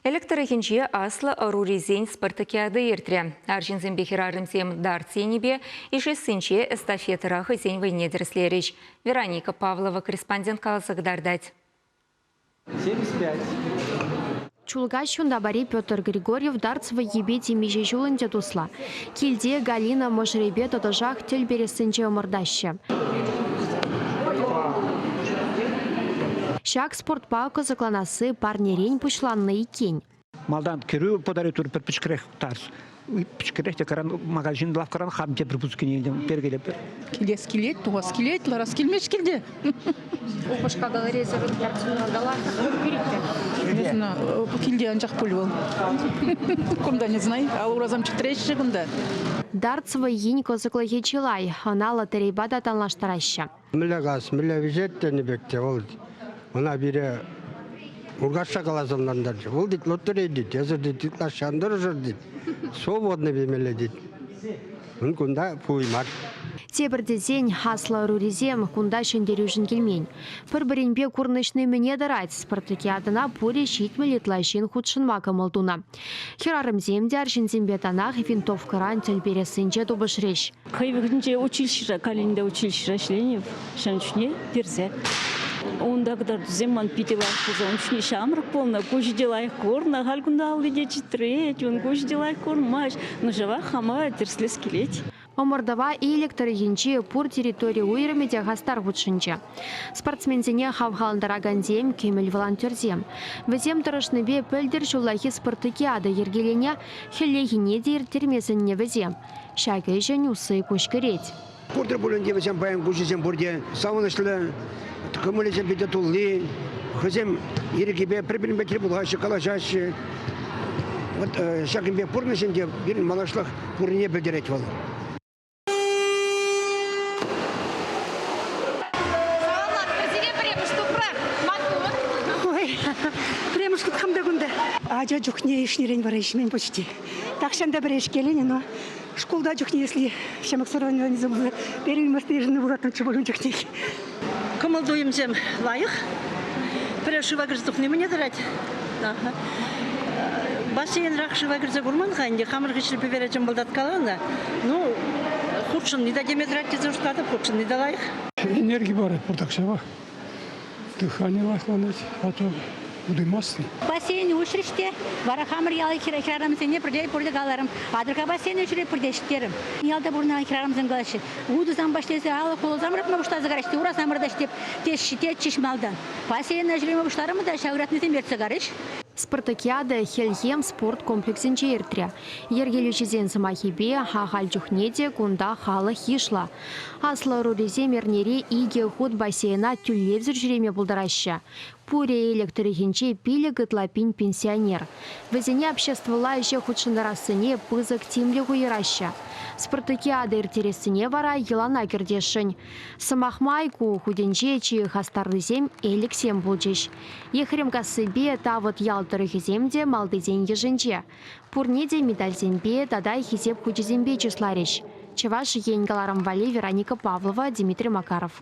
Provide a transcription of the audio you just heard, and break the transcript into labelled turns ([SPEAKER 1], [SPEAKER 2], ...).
[SPEAKER 1] Элӗк тӑрӑхӗнче аслӑ ӑрурисен спартакиада иртрӗ. Арҫынсемпе хӗрарӑмсем дартс енӗпе ишессинче эстафетӑра хӑйсен вӑйне тӗрӗслерӗҫ. Вероника Павлова корреспондент каласа кӑтартать.
[SPEAKER 2] 75.
[SPEAKER 3] Чулкаҫ Юнтапари Петр Григорьев дартс вӑййипе темиҫе ҫул ӗнтӗ туслӑ. Килте Галина мӑшӑрӗпе тӑтӑшах тӗл перессинче ӑмӑртаҫҫӗ. Ҫак спортпа кӑсӑкланасси парнерен пуҫланнӑ иккен. Малтан кӗрӳ
[SPEAKER 4] подаритор пӗр пӗчӗкрех тас. Пӗчӗкрех те магазин лавккаран хам тепӗр пускине илтӗм. Перкелеп. Килес килет,
[SPEAKER 5] тухас килет, ларас килмест килте. Упӑшка
[SPEAKER 3] галерейсӗр картина
[SPEAKER 5] Не знаю, килте анчах пуль вӑл. Кунта не знаю, а урасам чӗтреҫҫӗ кунта. Дартс
[SPEAKER 3] вӑййин кӑсӑклӑхӗ чылай. Ӑна лотерейпа та танлаштараҫҫӗ. Мӗнле газ, мӗнле
[SPEAKER 6] вӗҫет тенӗ пек те вӑл ӑна пире Муркашша каласа ӑнлантарчӗ. Вӑл тет лоттори тет, эсӗр тет ытлашши ан тӑрӑшӑр тет, свободный пемелле тет. Ун кунта пуй мар. Тепӗр тесен,
[SPEAKER 3] аслӑ ӑрурисем кунта ҫӗнтерӳшӗн килмен. Пӗр-пӗринпе курнӑҫни мӗне тӑрать, спартакиадӑна пурӗ ҫитмӗл ытла ҫын хутшӑнма кӑмӑл тунӑ. Хӗрарӑмсем те арҫынсемпе танах винтовкӑран тӗл перессинче тупӑшрӗҫ. Хӑй вӑхӑтӗнче
[SPEAKER 7] училищӗра, калининде училищӗра ӗҫленӗ ҫавӑн чухне персе. Унта кӑтартусем ман питӗ лайӑх пулса, ун чухне ҫамрӑк пулнӑ, куҫӗ те лайӑх курнӑ, халь кунта алли те чӗтрет, ун куҫӗ те лайӑх курмасть, но ҫавах хама тӗрӗслес килет. Ӑмӑртӑва
[SPEAKER 3] Элӗк тӑрӑхӗнчи пур территори уйрӑмӗ те хастар хутшӑнчӗ. Спортсменсене хавхалантаракансем, кӗмӗл волонтерсем. Вӗсем тӑрӑшнипе пӗлтӗр ҫуллахи спортокиада йӗркеленӗ, хӗллехине те ирттерме сӗннӗ вӗсем. Ҫак ӗҫӗн усси куҫкӗрет. Пурте пулин те
[SPEAKER 8] вӗсем паян куҫӗсем пурте савӑнӑҫлӑ, кӑмӑлӗсем питӗ тулли. Хӑйсем ирӗкӗпе пӗр-пӗринпе тӗл пулаҫҫӗ, калаҫаҫҫӗ. Вот э, ҫакӑн пек пурнӑҫ ӗнтӗ пирӗн малашлӑх пуррине пӗлтерет вӑл.
[SPEAKER 9] Ача чухне ишнӗрен вара ишмен почти. Тахҫан та пӗрешкелен ӑна. Шкулта чухне, если ҫамрӑксӑр организм пулса, первый мӑрсна йышӑннӑ пулатӑнччӗ пулин чухнех. Кӑмӑл-туйӑмсем
[SPEAKER 10] лайӑх. Пӗр шыва кӗрсе тухни мӗне тӑрать? Бассейнрах шыва кӗрсе курман-ха ӗнтӗ, хамӑр хыҫри пӗвере чӑмпӑлтаткаланӑ. Ну, хутшӑнни та теме тӑрать тесе шутлатӑп, хутшӑнни те лайӑх. Энерги парать
[SPEAKER 11] пуртак ҫава. Дыхание ласланать, а то удаймастся. Бассейн уҫрӗҫ
[SPEAKER 12] те, вара хамӑр ял хӗрарӑмсене пӗрле пурте каларӑм. Атӑрка бассейн ӗҫре пурте ҫитерӗм. Ялта пурӑнакан хӗрарӑмсем калаҫҫӗ, утӑ самба ӗҫлесе алӑк хула самӑратма пуҫласа караҫҫӗ те, ура самӑрта ӗҫлеп тетчӗҫ малтан. Бассейн ӗҫре пуҫларӑмӑр та ҫав ыратнисем ертсе карӗҫ. Спартакиада
[SPEAKER 3] хӗлхем спорт комплексӗнче иртрӗ. Йӗркелӳҫӗсен сӑмахӗпе, ахаль чухне те кунта халӑх йышлӑ. Аслӑ ӑрурисем эрнере икӗ хут бассейна тӳлевсӗр ҫӳреме пултараҫҫӗ. Пурӗ Элӗк тӑрӑхӗнче пилӗк ытла пин пенсионер. Вӗсене обществӑлла ӗҫе хутшӑнтарассине пысӑк тимлӗх уйӑраҫҫӗ. Спартакиада ирттерессине вара йӑлана кӗртесшӗн. Сӑмах май, ку хутӗнче чи хастарлисем элӗксем пулчӗҫ. Ехремкассипе Тавӑт ял тӑрӑхӗсем те малтисен йышӗнче. Пурне те медальсемпе тата Хисеп хучӗсемпе чысларӗҫ Чӑваш Ен кӑларӑм валли Вероника Павлова, Дмитрий Макаров.